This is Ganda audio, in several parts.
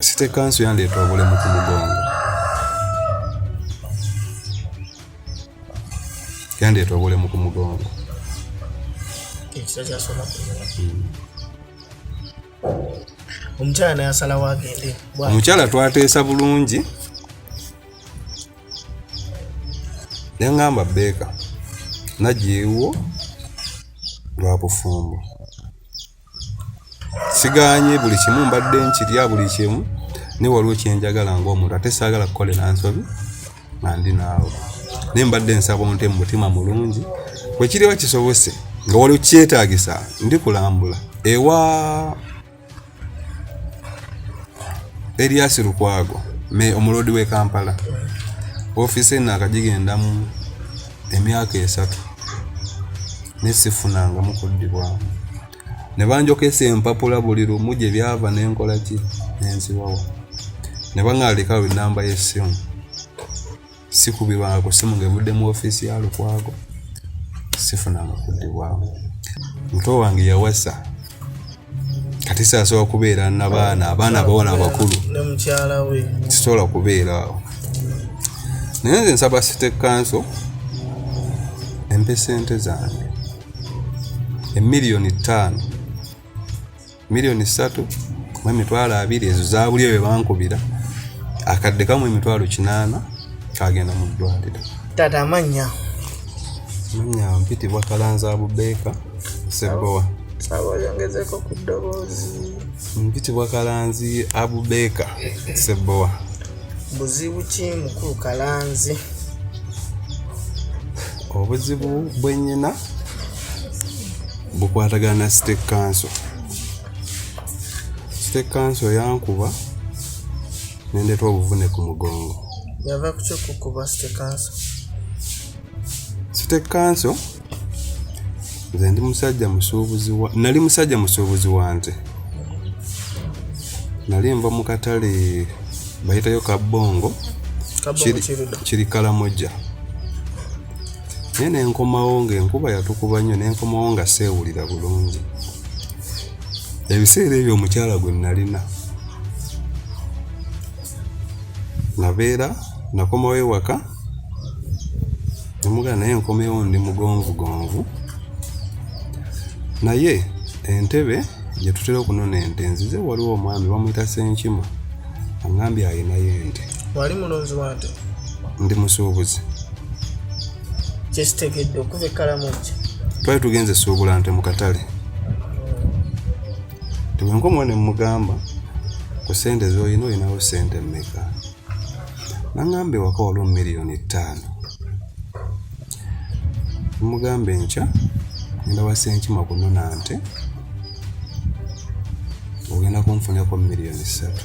Site kansu yandeeta obulemu ku mugongo, yandeeta obulemu ku mugongo. Omukyala naye asalawo agende. Omukyala twateesa bulungi yaŋŋamba bbeeka nagiiwo lwa bufumbo. sigaanye buli kimu mbadde nkirya buli kimu naye waliwo kyenjagala ngaomuntu ate saagala kukolera nsobi nga ndi naawe naye mbadde nsaba onte mu mutima mulungi wekiriba kisobose nga waliwo kyetagisa ndi kulambula ewa eriasi lukwago me omuloodi w'e kampala ofiisi eno akagigendamu emyaka esatu ne sifunangamu kuddibwamu ne banjokesa empapula buli lumu gye byava ne nkola ki ne nziwawa ne baŋaalikawo ennamba y'essimu sikubirwanga ku ssimu ng'evudde mu ofiisi ya lukwago sifunanga kuddibwamu muto wange yawasa kati sasobola kubeera nabaana abaana abawala abakulu sisobola kubeeraawo naye nze nsaba city kanso empe sente zange emiliyoni ttaano miliyoni ssatu mu emitwalo abiri ezo zabuli ebyo bankubira akadde kamu emitwalo kinaana kagenda mu ddwaliro tata amannya amannya mpitibwa kalanza abubeeka Seboa. Sawa, ongezeko ku ddoboozi. Mpitibwa Kalanzi Abubeka Seboa. Buzibu ki mukulu Kalanzi? Obuzibu bwe nnyina bukwatagana na State Council. State Council yankuba nendeeta obuvune ku mugongo. Yava ku kyokukuba State Council? State Council nze ndi musajja musuubuzi wa nali musajja musuubuzi wa nte nali nva mu katale bayitayo kabbongo kiri kalamoja naye nenkomawo ngaenkuba yatukuba nnyo nenkomawo nga seewulira bulungi ebiseera ebyo omukyala gwe nalina nabeera nakomawo ewaka nemugana naye nkomewo ndi mugonvugonvu naye entebe gyetutera okunona ente nzize waliwo omwami bamuyita senkima angambye ayinayo ente wali mulonzi wante ndi musuubuzi kyekitegedde okuva ekkalamu nti twali tugenze suubula nte mu katale tebwenkomuwa ne mugamba ku sente zolina olinawo sente mmeka nangamba ewaka waliwo miliyoni ttaano mugamba enkya ngenda wasenkima kunona nte ogenda kunfunirako miliyoni ssatu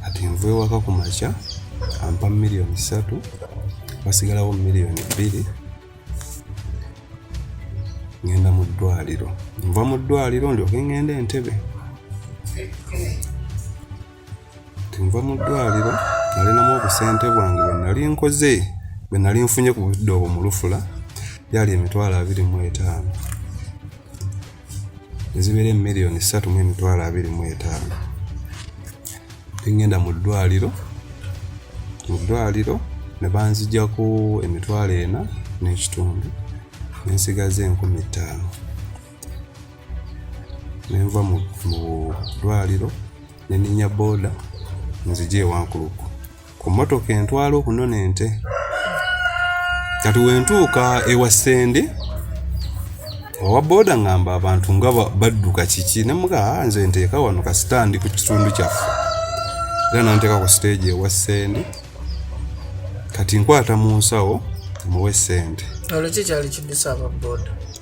kati nva ewaka ku makya ampa miliyoni ssatu wasigalawo miliyoni bbiri ngenda mu ddwaliro nva mu ddwaliro ndyoke ngenda entebe tunva mu ddwaliro nalinamu obusente bwange bwenali nkoze bwenali nfunye ku budde obwo mulufula byali emitwalo abiri mu etaano ezibeera emiliyoni ssatu mu emitwalo abiri mu etaano engenda mu ddwaliro mu ddwaliro ne banzijako emitwalo ena n'ekitundu nensigaza enkumi ttaano nenva mu ddwaliro neninya booda nzija ewankuluku ku mmotoka entwala okunona ente kati wentuuka ewa sende owa booda ngamba abantu nga badduka kiki nemuga ah, nze nteeka wano kasitandi ku kitundu kyaffe era nanteeka ku siteegi ewa sende kati nkwata mu nsawo muwe sente olwo kikyali kidusa aba booda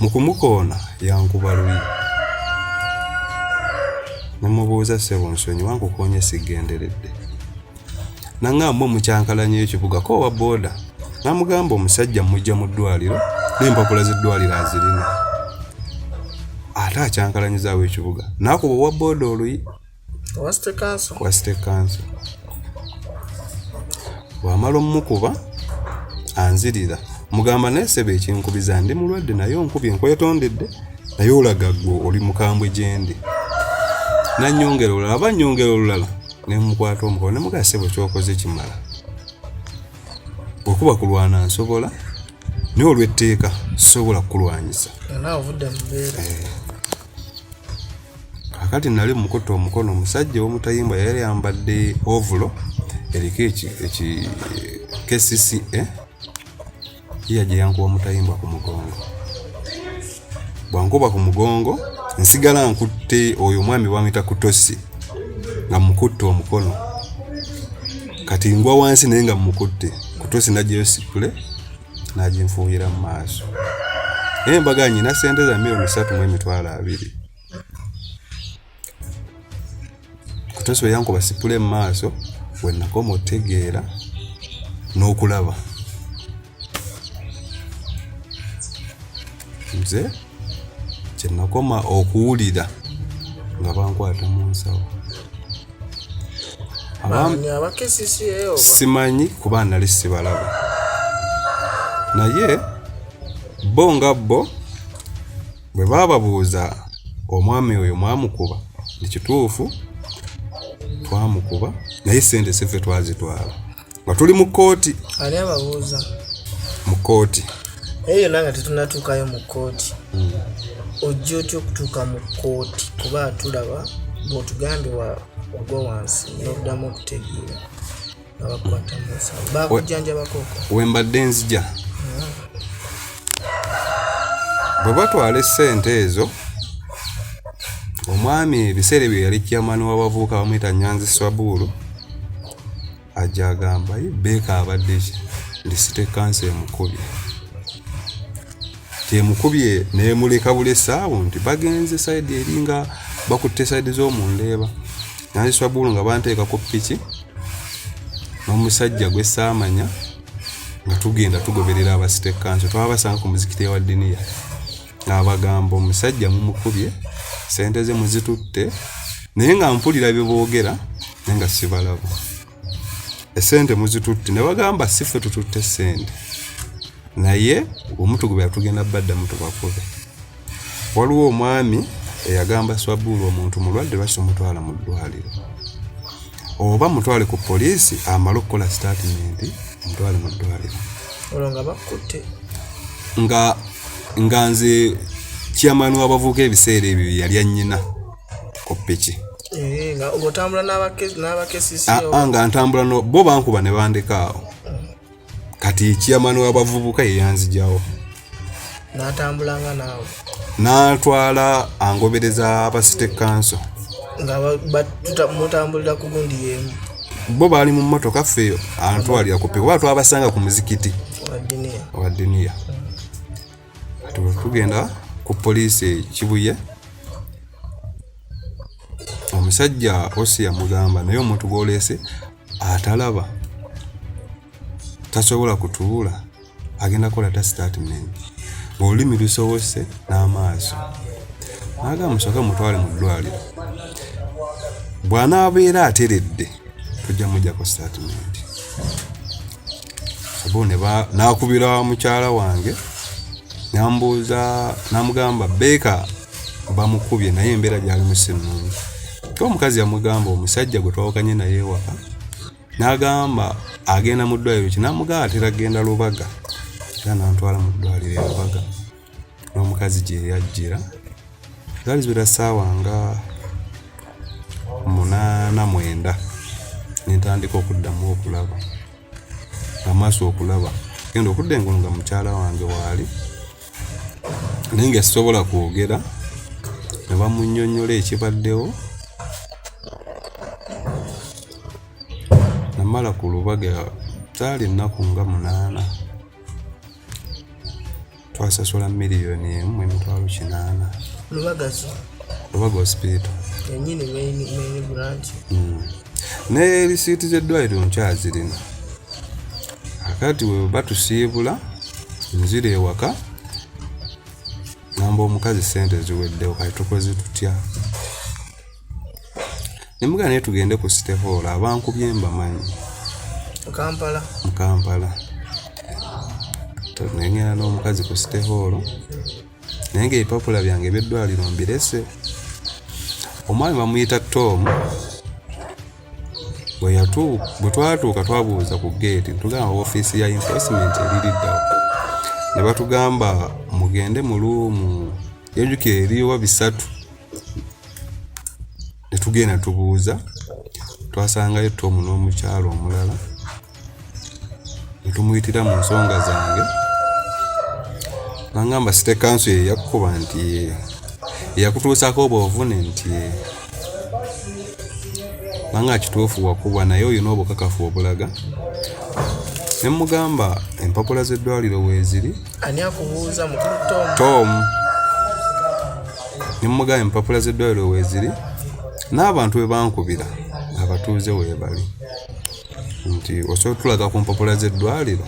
Mu kumukoona yankuba luyi ne mubuuza ssebo nsonyiwa nkukoonye sigenderedde nangamba omukyankalanya ekibuga ko owa booda namugamba omusajja mujja mu ddwaliro n'empapula z'eddwaliro azirina ate akyankalanyizaawo ekibuga naakuba owa booda oluyi wa state council wa state council bwamala omukuba anzirira mugamba naye sebe ekinkubiza ndi mulwadde naye onkubye nkwetondedde naye olaga gwe oli mukambwe gyendi nanyongera olulala aba nyongera olulala nemukwata omukono nemugaa sebo kyokoze kimala okuba kulwana nsobola naye olwetteeka sobola kukulwanyisa eh. kakati nali mukutte omukono omusajja owomutayimbwa yali yambadde ovulo eriko kcca eh? yiya gye yankuba omutayimbwa ku mugongo bwankuba ku mugongo nsigala nkutte oyo omwami bamuyita kutosi nga mukutte omukono kati ngwa wansi naye nga mukutte kutosi najjayo sipule n'aginfuuyira mu maaso naye mbaga nyina ssente za miliyoni satu mu emitwalo abiri kutosi bwe yankuba sipule mu maaso we nakoma otegeera n'okulaba nze kyenakoma okuwulira nga bankwata mu nsawo simanyi kuba nali sibalaba naye bo nga bo bwe baababuuza omwami oyo mwamukuba ekituufu twamukuba naye sente sife twazitwala nga tuli mu kkooti ani ababuuza mu kkooti naye yonna nga tetunatuukayo mu kkooti hmm. ojja otya okutuuka mu kkooti kuba tulaba bwotugambye wagwa wansi noddamu okutegeera abakwata musawo bakujjanjabakoko wembadde nzija hmm. bwe batwala essente ezo omwami ebiseera ebyo yali kyamani w'abavubuka bamuyita nyanzi swabuulu ajja agamba ye beeka abadde ki ndi site kansa emukubye temukubye nemuleka buli esaawo nti bagenze saidi eri nga bakutte saidi z'omundeeba naziswabulu nga banteeka ku piki n'omusajja gwesaamanya nga tugenda tugoberera abasite kansa twabasanga ku muzikiti ewa diniya abagamba omusajja mumukubye sente ze muzitutte naye nga mpulira byeboogera naye nga sibalaba esente muzitutte ne bagamba si ffe tututte sente naye omutugubya tugenda baddamu tubakube waliwo omwami eyagamba swabuulu omuntu mulwadde lwaki omutwala mu ddwaliro oba mutwale ku poliisi amale okukola sitatimenti mutwale mu ddwaliro nga nga nze chairman w'abavubuka ebiseera ebyo yali anyina ku piki eh, nga ah, ah, ntambula bo bankuba ne bandeka awo kati chairman w'abavubuka yeyanzijawo natambulanga naawe natwala angobereza aba city council nga mutambulira ku gundi yemu bo baali mu mmotoka ffe antwalira kupe kuba twabasanga ku muzikiti owa diniya tugenda ku poliisi kibuye omusajja osi yamugamba naye omuntu gwoleese atalaba tasobola kutuula agenda kola ta statement ngaolulimi lusobose n'amaaso nagamba musooke mutwale mu ddwaliro bw'anaabeera ateredde tujja mujjako statement obo nakubira mukyala wange nambuuza namugamba beeka bamukubye naye embeera gyali musi nungi ka omukazi yamugamba omusajja gwe twawukanye naye ewaka nagamba agenda mu ddwaliro kinamugamba atera genda lubaga era nantwala mu ddwaliro elubaga n'omukazi gye yajjira zaali ziwera ssaawa nga munaana mwenda ne ntandika okuddamu okulaba amaaso okulaba genda okudda engulu nga mukyala wange waali naye nga sisobola kwogera ne bamunyonyola ekibaddewo namala ku lubaga zaali ennaku nga munaana twasasula miliyoni emu emitwalo kinaana lubagazi lubaga hospital enyini main main branch mm. ne receipt ze dwairo nkyazirina akati we batusiibula nzira ewaka namba omukazi sente ziweddewo kati tukoze tutya ne mugamba naye tugende ku city hall abankubye mbamanyi mukampala mukampala nengenda n'omukazi ku city hall naye nga ebipapula byange ebyeddwaliro mbirese omwami bamuyita tom bwe twatuuka twabuuza ku geeti tugamba ofiisi ya enforcement eririddawo ne batugamba mugende mu luumu yajukira eriwa bisatu ne tugenda tubuuza twasangayo tomu n'omukyalo omulala ne tumuyitira mu nsonga zange bangamba site kanso ye yakukuba nti eyakutuusako obwo obuvune nti banga kituufu wakuba naye olina obukakafu obulaga ne mugamba empapula z'eddwaliro weeziri ani akubuuza mukulu tomu ne mugamba empapula z'eddwaliro weeziri n'abantu bwe bankubira abatuuze weebali nti osobola otulaga ku mpapula z'eddwaliro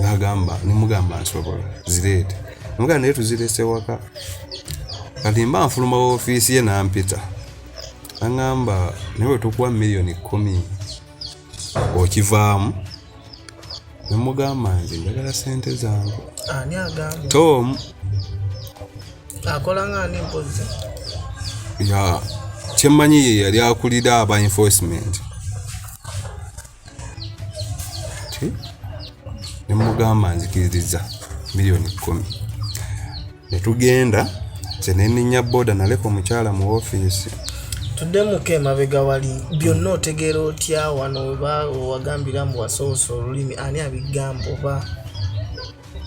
nagamba nemugamba nsobola zireete mugamba naye tuzirese waka kati mba nfuluma ofiisi ye nampita aŋamba naye wetukuwa miliyoni kumi okivaamu nemugamba nze njagala sente zange tom akola nga ani mpozi ya kyemmanyi ye yali akulira aba enforcement nemugamba nzikiririza miliyoni kumi netugenda kyeneninya boda naleka omukyala mu ofiisi tuddemuko emabega wali byonna otegeera otya wano oba owagambira mbu wasoose olulimi ani abigamba oba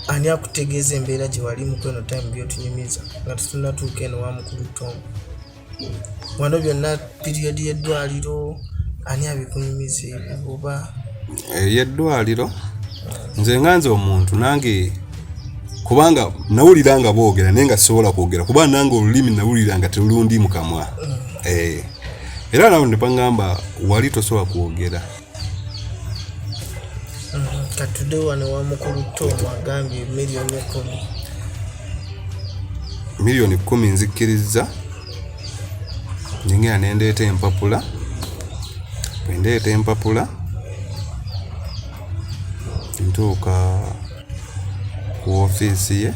ani akutegeeza embeera gye wali mu kweno time byotunyumiza nga tutunatuuka eno wa mukulu tomu wano byonna piriyodi y'eddwaliro ani abikunyumiza ebyo oba eyeddwaliro nze nga nze omuntu nange kubanga nawulira nga boogera naye nga sisobola kwogera kuba nange olulimi nawulira nga terulundi mukamwa mm. eh. era nawe nepangamba wali tosobola kwogera katude wano wa mukulu tom agambye miliyoni kumi miliyoni kumi nzikkirizza njingira nendeeta empapula bwendeeta empapula ntuuka ku ofiisi ye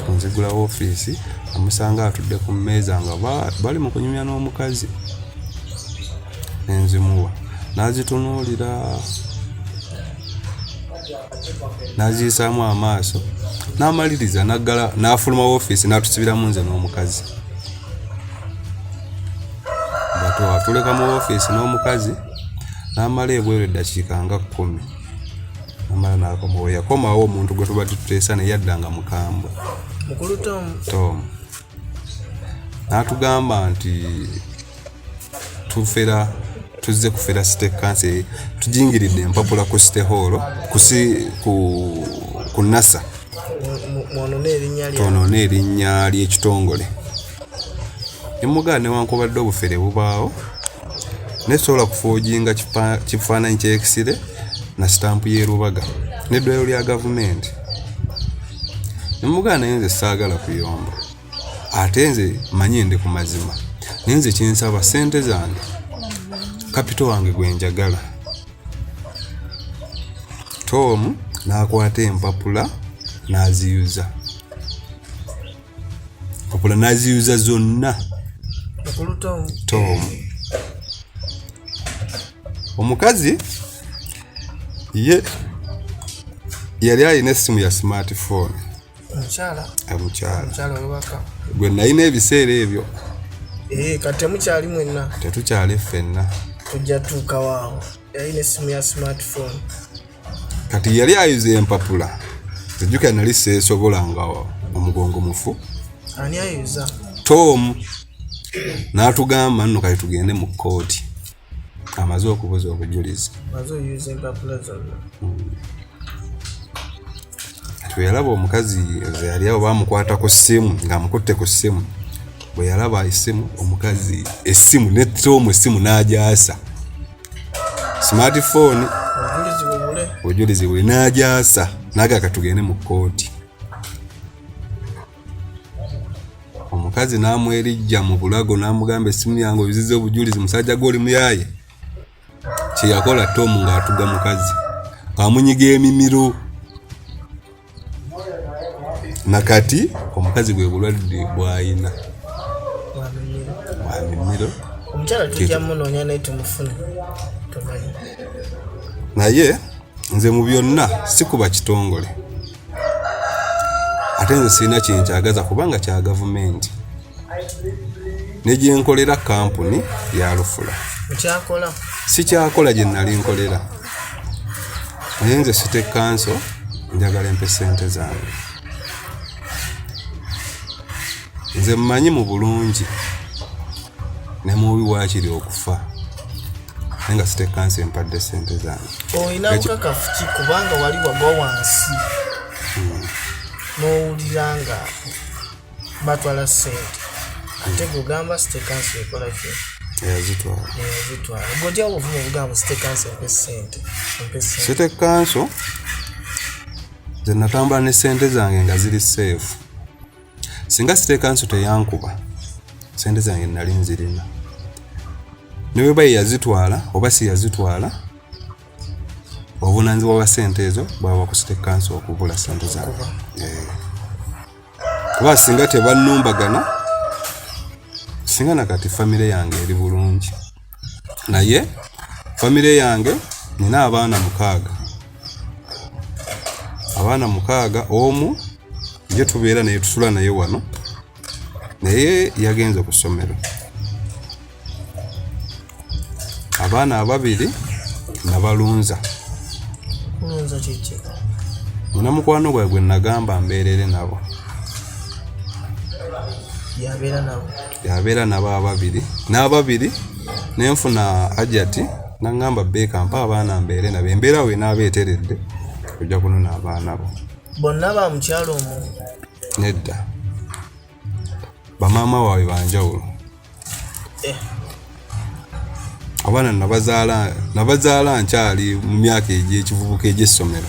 ku nzigula woofiisi amusanga atudde ku mmeeza nga bali mu kunyumya n'omukazi nenzimuwa n'azitunuulira n'aziyisaamu amaaso n'amaliriza naggala n'afuluma woofiisi n'atusibiramu nze n'omukazi batwatuleka mu woofiisi n'omukazi n'amala ebweru eddakiika nga kkumi omala nakomawo yakomawo omuntu gwe tubadde tuteesa naye yadda nga mukambwe mukulu tom tom natugamba nti tufera tuzze kufera site kanse tujingiridde empapula ku site hall kusi ku, ku nasa twonone erinnya lyekitongole nemugaa newankubadde obufere bubaawo naye sobola kufoojinga kifaananyi kyekisire na sitampu yerubaga neddwaliro lya gavumenti nemugaa naye nze saagala kuyomba ate nze manye ndi ku mazima naye nze kyensaba sente zange kapito wange gwenjagala toomu n'akwata empapula n'aziyuza mpapula naziyuza zonna tomu omukazi ye yali alina essimu ya smartphone omukyala gwe nalina ebiseera ebyo eh, kati temukyali mwenna tetukyali ffenna tujja tuukawaawo yalina essimu ya smartphone kati yali ayuza empapula ejjukira nali seesobola nga omugongo mufu ani ayuza tom n'atugamba nno kati tugende mu kkooti amaze okubuza obujulizi hmm. tweyalaba omukazi yali awo bamukwata ku ssimu ng'amukutte ku ssimu bwe yalaba essimu omukazi essimu ne tom essimu n'agyasa smartphone obujulizi buli n'agyasa naga katugende mu kkooti omukazi n'amwerijja mu bulago n'amugamba essimu yange obiziza obujulizi musajja gwe oli muyaye kyeyakola tomu ng'atuga mukazi amunyiga emimiro nakati omukazi bwe bulwadde bwayina bwamimiro omukyala tujja munoonya naye tumufune tumanyi naye nze mu byonna sikuba kitongole ate nze sirina kyenkyagaza kubanga kya gavumenti ne gye nkolera kampuni ya lufula sikyakola gye nali nkolera naye nze site kanso njagala empe sente zange nze mmanyi mu bulungi ne mubi waakiri okufa naye nga site kanso empadde sente zange olina bukakafu ki kubanga wali wagwa wansi hmm. n'owulira nga batwala sente ate gogamba state council ekola ki yazitwala gotya obuvumu obugamba state council mpe sente state council nze natambula ne sente zange nga ziri seefu singa state council teyankuba sente zange nali nzirina ne bweba ye yazitwala oba si yazitwala obuvunanyizibwa bwa sente ezo bwaba ku state council okubula sente zange yeah. kuba singa tebannumbagana singa na kati famire yange eri bulungi naye famire yange nina abaana mukaaga abaana mukaaga omu ye tubeera naye tusula naye wano naye yagenze ku ssomero abaana ababiri nabalunza nina mukwano gwae gwe nagamba mbeerere nabo yabeera nabo ababiri n'ababiri nenfuna ajati nangamba beeka mpa abaana mbeere nabo embeera we naaba eteredde ojja kunona abaana bo bonna ba mukyalo omu nedda bamaama waabwe banjawulo eh. abaana nabazaala nkyali mu myaka egyekivubuka egyessomero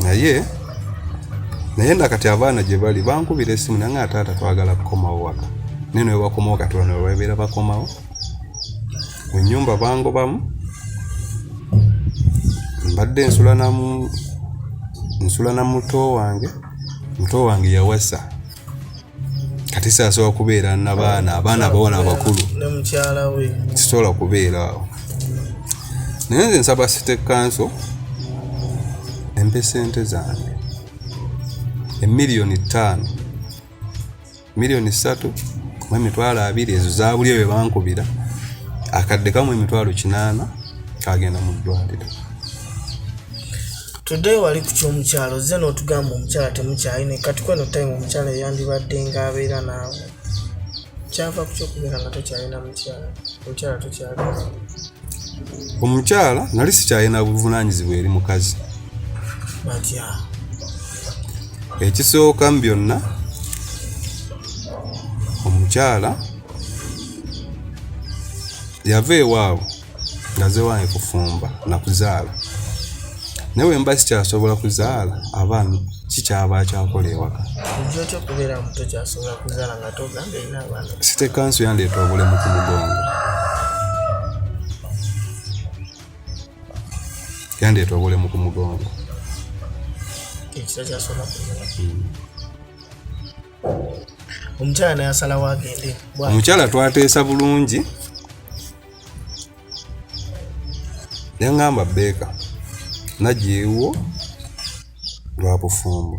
naye naye nakati abaana gye bali bankubira esimu nange ataata twagala kukomawo waka naye newebakomawo kati bano webabeera bakomawo mu nyumba bangobamu mbadde nsula na nsula na muto wange muto wange yawasa kati saasobola kubeera nabaana abaana abawona abakulu sisobola kubeera awo naye nze nsaba site kanso empe sente zange emiliyoni ttaano miliyoni ssatu mu emitwalo abiri ezo zabuli oyo bankubira akadde kamu emitwalo kinaana kagenda mu ddwaliro today wali ku kyomukyalo ozze n'otugamba omukyala temukyayi ne kati kweno time omukyala eyandibadde nga abeera naawe kyava ku kyokubeera nga tokyalina mukyala omukyala tokyalina omukyala nali sikyalina buvunanyizibwa eri mukazi ekisooka mu byonna omukyala yava ewaabwe ngazewange kufumba nakuzaala naye wemba sikyasobola kuzaala abaana kikyaba akyakola ewaka site kanso yandeeta obulemu ku mugongo yandeeta obulemu ku mugongo hmm. omukyala naye asalawo agende omukyala twateesa bulungi Yaŋŋamba Beeka najja ewuwo lwa bufumbo.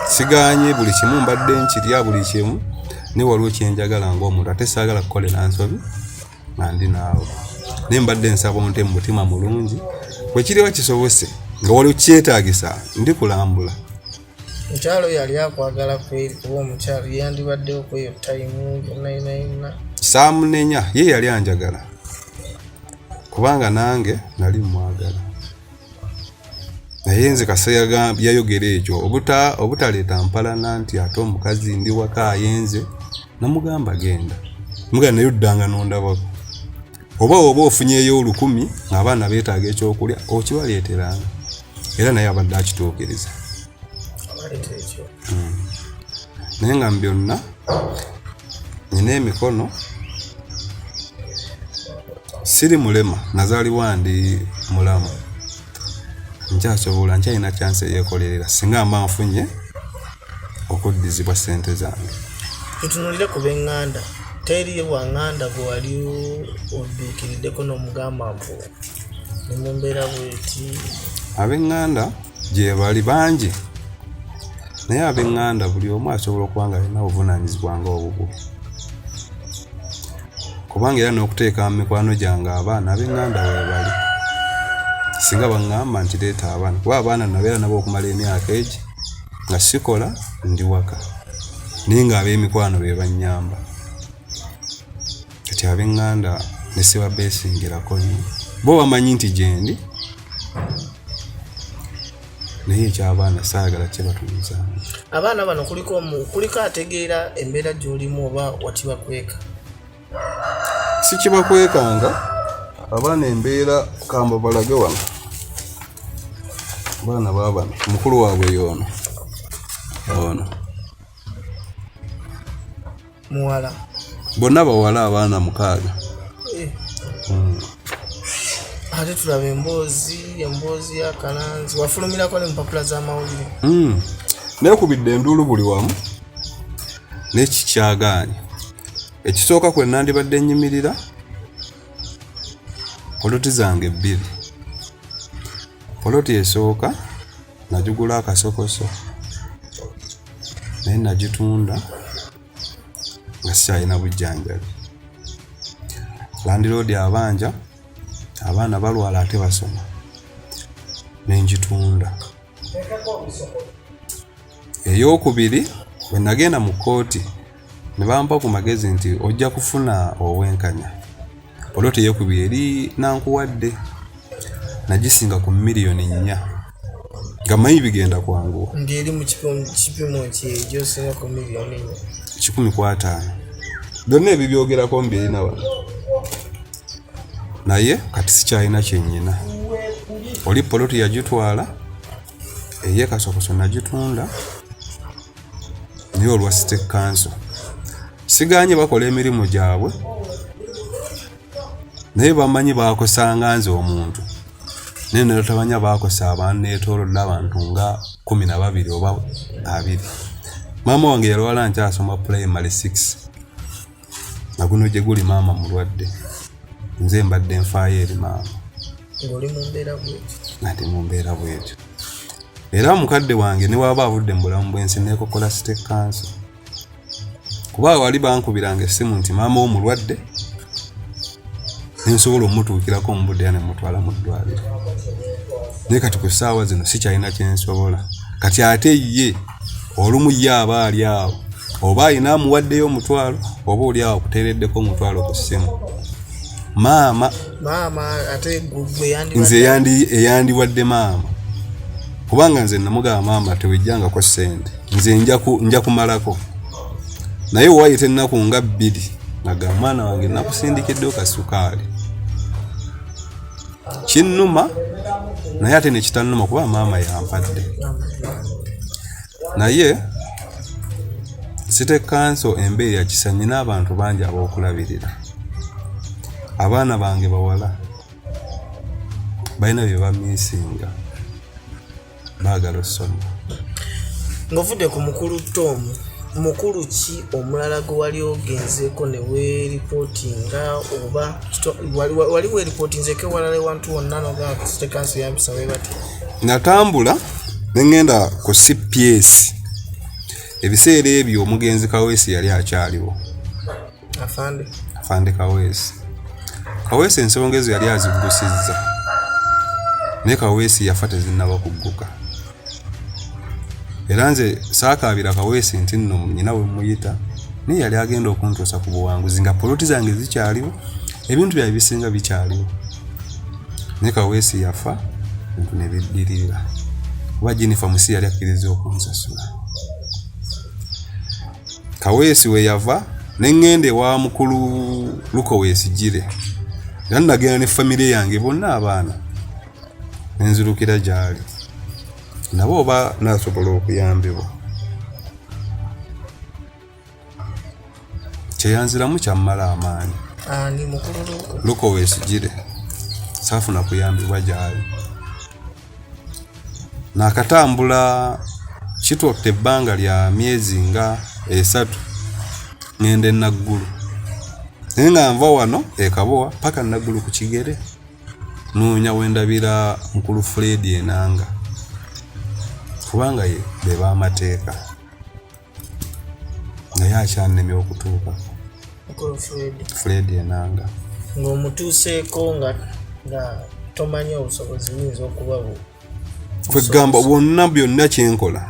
Sigaanye buli kimu mbadde nkirya buli kimu naye waliwo kye njagala ng'omuntu ate saagala kukolera nsobi nga ndi naawe. Naye mbadde nsaba onte mu mutima mulungi bwe kiriba kisobose nga waliwo kyetaagisa ndikulambula. mukyalo yali akwagala kweri kuba omukyalo yeyandibaddewo kweyo tayimu yonna yona yonna saamunenya ye yali anjagala kubanga nange nali mwagala naye nze kasa yayogera ekyo obutaleeta mpalana nti ate omukazi ndi waka ayenze namugamba genda mugana naye oddanga nondabako oba oba ofunyeyo olukumi ngaabaana betaaga ekyokulya okibaleeteranga era naye abadde akituukiriza hmm. naye nga mu byonna nina emikono siri mulema nazaalibwa ndi mulamu nkyasobola nkyalina kyansi eyekolerera singa mba nfunye okuddizibwa ssente zange tutunulire ku benganda teri wanganda gwe wali odduukiriddeko n'omugamba mbu ne mu mbeera bweti abenganda gyebali bangi naye abenganda buli omu asobola okuba nga alina obuvunaanyizibwa nga obubwo kubanga era n'okuteeka mu mikwano gyange abaana abenganda webali singa baŋŋamba nti leeta abaana kuba abaana nabeera nabo okumala emyaka egi nga sikola ndi waka naye nga ab'emikwano be bannyamba kati ab'eŋŋanda ne sibabeesingirako nnyo bo bamanyi nti gyendi naye ekyabaana saagala kyebatunza abaana bano kuliko omu kuliko ategeera embeera gy'olimu oba wakibakweka sikibakwekanga abaana embeera kamba balage wano abaana babano mukulu waabwe yoono ono muwala bonna bawala abaana mukaaga eh. hmm. ate tulaba emboozi emboozi ya kalanzi wafulumirako ne mupapula z'amawulire hmm. nekubidde enduulu buli wamu nekikyagaanyi ekisooka kwe nandibadde nnyimirira poloti zange bbiri poloti esooka nagigula akasokoso naye nagitunda nga sikyalina bujjanjabi landiroodi abanja abaana balwala ate basoma nengitunda eyokubiri wenagenda mu kooti ne bampa ku magezi nti ojja kufuna obwenkanya olwo teyekubi eri nankuwadde nagisinga ku miliyoni nnya nga mayi bigenda kwanguwa ngeri mu kipimo kyejosinga ku miliyoni nnya kikumi ku ataano byonna ebyo byogerako mbiri na wano naye kati sikyalina kyenyina oli poloti yagitwala eye kasokoso nagitunda naye olwa site kanso siganye bakola emirimu gyabwe naye bamanyi bakosanga nze omuntu naye nelotabanya bakosa abanetolodde abantu nga kumi na babiri oba abiri maama wange yalwala nkyasoma primary six nga guno gye guli maama mulwadde nze mbadde nfaayo eri maama ngate mu mbeera bwetyo era mukadde wange ne waaba avudde mu bulamu bwensi nekokola site kanso kuba wali bankubiranga essimu nti maama wo mulwadde nensobola omutuukirako omubudde ya nemutwala mu ddwaliro naye kati ku ssaawa zino sikyalina kyensobola kati ate ye olumu ye aba ali awo oba alina amuwaddeyo omutwalo oba oli awo akuteereddeko omutwalo ku ssimu maama nze eyandiwadde maama kubanga nze namugamba maama tewejjangako ssente nze nja kumalako naye waayita ennaku nga bbiri aga mwana wange nakusindikiddeyo kasukaali kinnuma naye ate nekitannuma kuba maama yampadde naye site kanso embeeri yakisa nyina abantu bangi abokulabirira abaana bange bawala balina bye bamisinga baagala osoma ng'ovudde ku mukulu tomu mukulu ki omulala gwe wali ogenzeeko ne weripootinga oba wali weripootinzeeko ewalala ewantu wonna nogatekansi yampisa webati natambula nengenda ku cps ebiseera ebyo omugenzi kaweesi yali akyaliwo Afande. Afande Kaweesi. Kaweesi ensonga ezo yali aziggusizza naye Kaweesi yafa tezinnaba kugguka era nze saakaabira Kaweesi nti nno nyina we muyita naye yali agenda okuntuusa ku buwanguzi nga poloti zange zikyaliwo ebintu byae bisinga bikyaliwo naye Kaweesi yafa ebintu ne biddirira kuba Jennifer Musi yali akkiriza okunsasula kaweesi we yava ne ŋŋenda ewa mukulu luko weesigire era nagenda ne famire yange bonna abaana ne nzirukira gy'ali nabo oba nasobola okuyambibwa kyeyanziramu kyammala amaanyi luko weesigire saafuna kuyambibwa gy'ali nakatambula kitwakta ebbanga lya myezi nga esatu ngende naggulu naye nga nva wano ekabowa paka naggulu ku kigere noonya wendabira mukulu fredi enanga kubanga ye bebamateeka naye akyannemye okutuuka fred enanga ng'omutuuseeko nga nga tomanyi obusobozi buyinza okuba bu kwegamba bwonna byonna kyenkola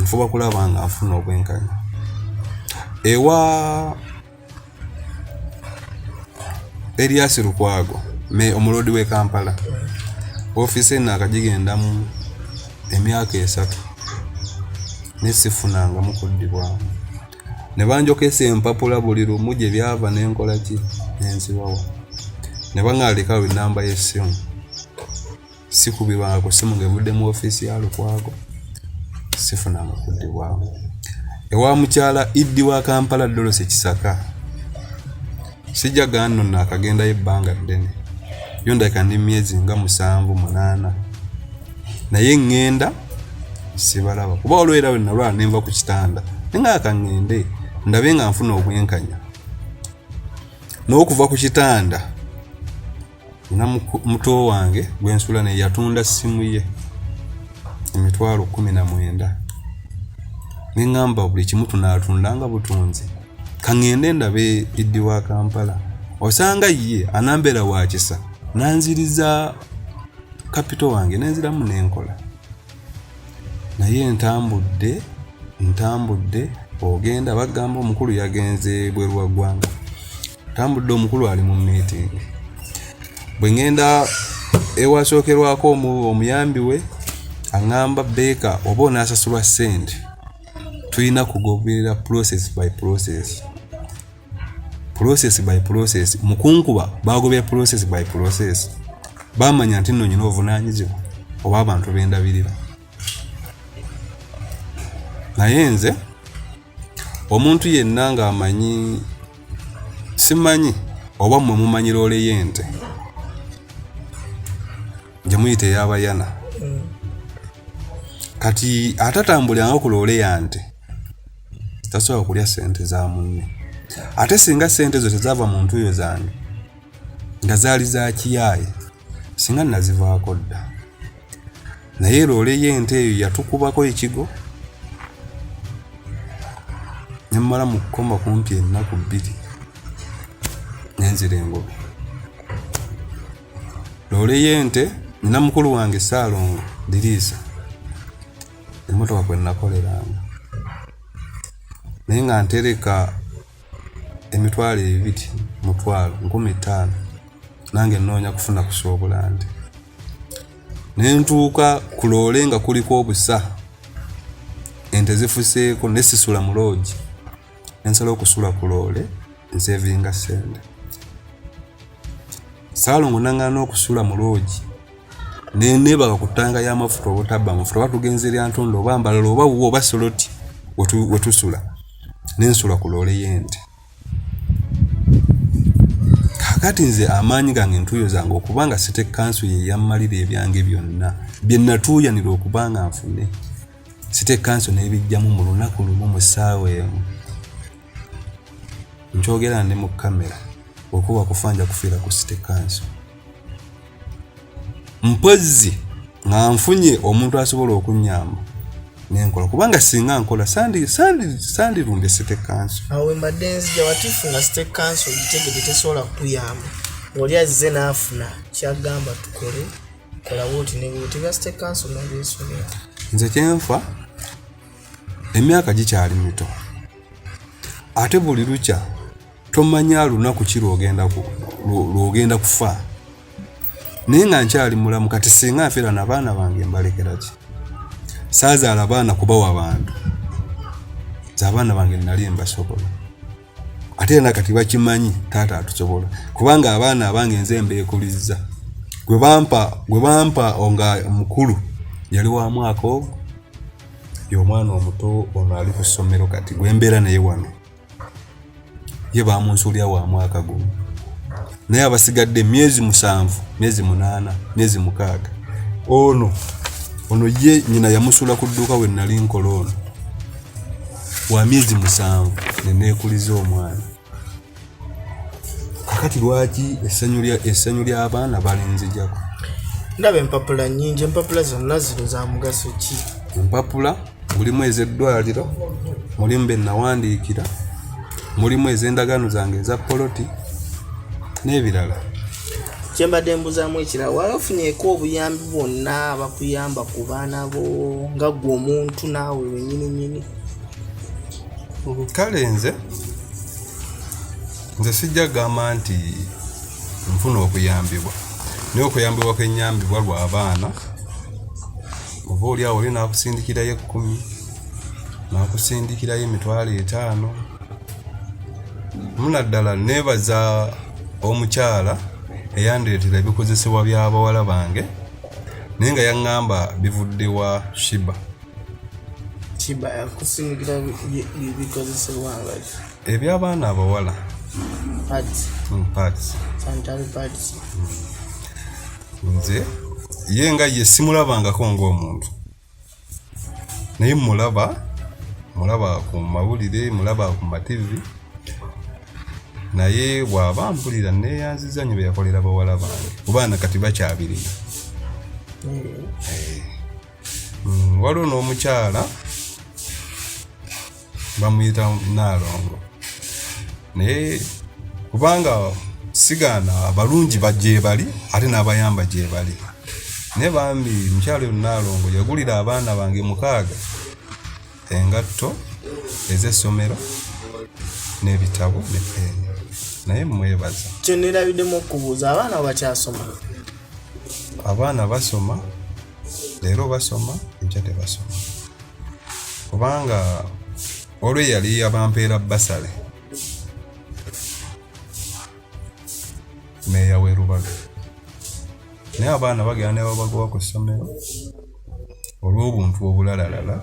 nfuba kulaba nga nfuna obwenkanya ewa Elias Lukwago me omuloodi w'e Kampala ofiisi eno akagigendamu emyaka esatu ne sifunangamu kuddibwamu ne banjokesa empapula buli lumu gye byava ne nkola ki nenziwawa ne baŋaalikawo ennamba y'essimu sikubirwako simu ng'evudde mu ofiisi ya lukwago sifunanga kuddibwamu ewa mukyala iddi wa kampala dolose kisaka sijja ganno naakagendayo ebbanga ddene yo ndabika ndi myezi nga musanvu munaana naye ŋŋenda sibalaba kuba olwera we nalwala nenva ku kitanda nengaaka ŋŋende ndabe nga nfuna obwenkanya n'okuva ku kitanda na muto wange gwensula naye yatunda simu ye emitwalo kumi na mwenda neŋamba buli kimu tunatunda nga butunzi kaŋende ndabe iddi wa kampala osanga ye anambeera wakisa nanziriza kapito wange nenziramu nenkola naye ntambudde ntambudde ogenda bagamba omukulu yagenze bweru wa ggwanga ntambudde omukulu ali mu meeting bwe ŋŋenda ewasookerwako omuyambi we aŋŋamba beeka oba onaasasulwa ssente tulina kugoberera process by process process by process mukunkuba bagobya process by process bamanya nti nno nyina obuvunaanyizibwa oba abantu bendabirira naye nze omuntu yenna ng'amanyi simanyi oba mmwe mumanyi loole y'ente gye muyita eyabayana kati atatambuliranga ku loole yante tasobola kulya sente za munne ate singa sente ezo tezaava mu ntuuyo zange nga zaali za kiyaaye singa nazivaako dda naye loole y'ente eyo yatukubako ekigo nemmala mu kukoma kumpi ennaku bbiri nenzira engobe loole y'ente nina mukulu wange saalongo diriisa emmotoka kwe nakoleranga naye nga ntereka emitwalo ebiri mutwalo nkumi ttaano nange nnoonya kufuna kusoobulandi ne ntuuka ku loole nga kuliko obusa ente zifuseeko ne sisula mu loogi nensala okusula ku loole nsevinga sente saalongo nangana okusula mu loogi nenebaga ku ttanga y'amafuta oba otabba amafuta oba tugenza eryantondo oba mbalala oba wuwe oba soloti wetusula nensula ku loole y'ente kakati nze amaanyi gange entuuyo zange okuba nga site kansu yeyammalira ebyange byonna bye natuuyanira okuba nga nfune site kanso nebijjamu mu lunaku lumu mu ssaawa emu nkyogera ndi mu kamera okuba kufa nja kufiira ku site kanso mpozzi nga nfunye omuntu asobola okunyamba nenkola kubanga singa nkola sandirumbye site kanso awe madenzi jawatufuna site kanso gitegede tesobola kutuyamba oli azze naafuna kyagamba tukole nze kyenfa emyaka gikyali mito ate buli lukya tomanya lunaku ki lwogenda kufa naye nga nkyali mulamu kati singa nfera nabaana bange mbalekeraki saazaala baana kubawa bantu nze abaana bange nali mbasobola ate era kati bakimanyi taata atusobola kubanga abaana abange nze mbeekulizza gwe bampa gwe bampa nga mukulu yali wa mwaka ogwo y'omwana omuto ono ali ku ssomero kati gwe mbeera naye wano ye bamunsuulira wa mwaka gumu naye abasigadde myezi musanvu myezi munaana myezi mukaaga ono ono ye nyina yamusuula ku dduuka we nali nkola ono wa myezi musanvu ne neekuliza omwana kakati lwaki essanyu ly'abaana balinzijako ndaba empapula nyingi empapula zonna zino za mugaso ki empapula mulimu ez'eddwaliro mulimu be nawandiikira mulimu ez'endagaano zange eza poloti n'ebirala kyembadde mbuzamu ekira wafunyeeko obuyambi bwonna bakuyamba ku baana bo nga gwe omuntu naawe wenyininyini kale nze nze sijja kugamba nti nfuna okuyambibwa naye okuyambibwa kwenyambibwa lwa abaana oba oli awo oli nakusindikirayo ekkumi nakusindikirayo emitwalo etaano munaddala nebaza omukyala eyandireetera ebikozesebwa by'abawala bange naye nga yaŋŋamba bivudde wa shiba shiba yakusingira bikozesebwa nga eby'abaana abawala hmm, nze ye nga ye simulabangako ng'omuntu naye mulaba mulaba ku mawulire mulaba ku mativi naye bwaba mpulira neyanziza nyo beyakolera bawala bange kubaana kati bakyabirina eh. mm, waliwo n'omukyala bamuyita naalongo naye kubanga sigaana abalungi bagyebali ate n'abayamba gyebali naye bambi mukyalo naalongo yagulira abaana bange mukaaga engatto ez'essomero n'ebitabo ne peeni naye mwebaza kyenerabiddemu okubuuza abaana bakyasoma abaana basoma leero basoma enkya tebasoma kubanga olwo eyali abampeera basale meeya werubaga naye abaana bagenda nebabagoba ku ssomero olw'obuntu obulalalala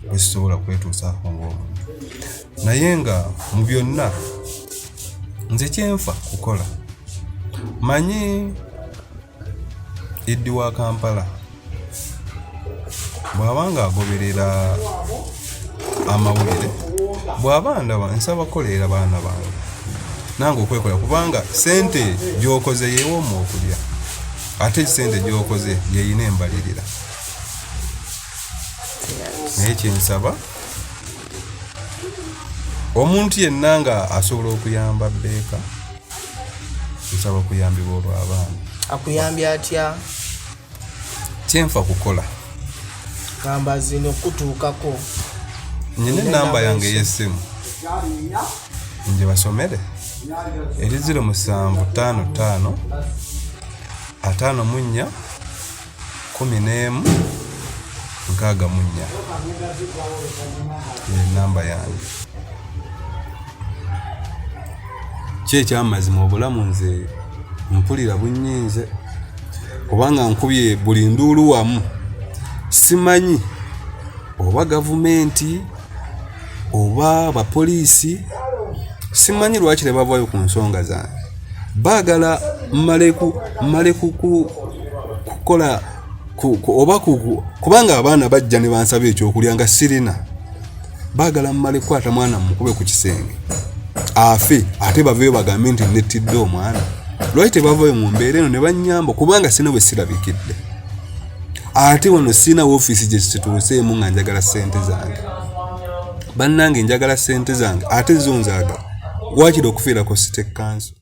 bwezisobola kwetuusaako ngaomuntu naye nga mu byonna nze kyenfa kukola manyi eddi wa kampala bw'aba ng'agoberera amawulire bw'aba ndaba nsaba kukolerera baana bange nange okwekola kubanga sente gy'okoze yewooma okulya ate ekisente gy'okoze yeyina embalirira naye kyensaba omuntu yenna nga asobola okuyamba beeka nsaba okuyambibwa olw'abaana akuyambye atya kyenfa kukola gamba zino okutuukako nyina enamba yange ey'essimu nje basomere eri ziro musanvu ttaano ttaano ataano mu nnya kumi n'emu nkaaga mu nnya enamba yange ki ekyamazima obulamu nze mpulira bunyinze kubanga nkubye buli nduulu wamu simanyi oba gavumenti oba abapoliisi simanyi lwaki tebavaayo ku nsonga zange baagala mmale kukola oba kubanga abaana bajja ne bansaba ekyokulya nga sirina baagala mmale kukwata mwana mukube ku kisenge afe ate baveeyo bagambe nti nettidde omwana lwaki tebavayo mu mbeera eno ne bannyamba kubanga sina bwe sirabikidde ate wano sirina woofiisi gye kituuseemu nga njagala ssente zange bannange njagala ssente zange ate zo nzaagala waakiri okufiirako sitekanso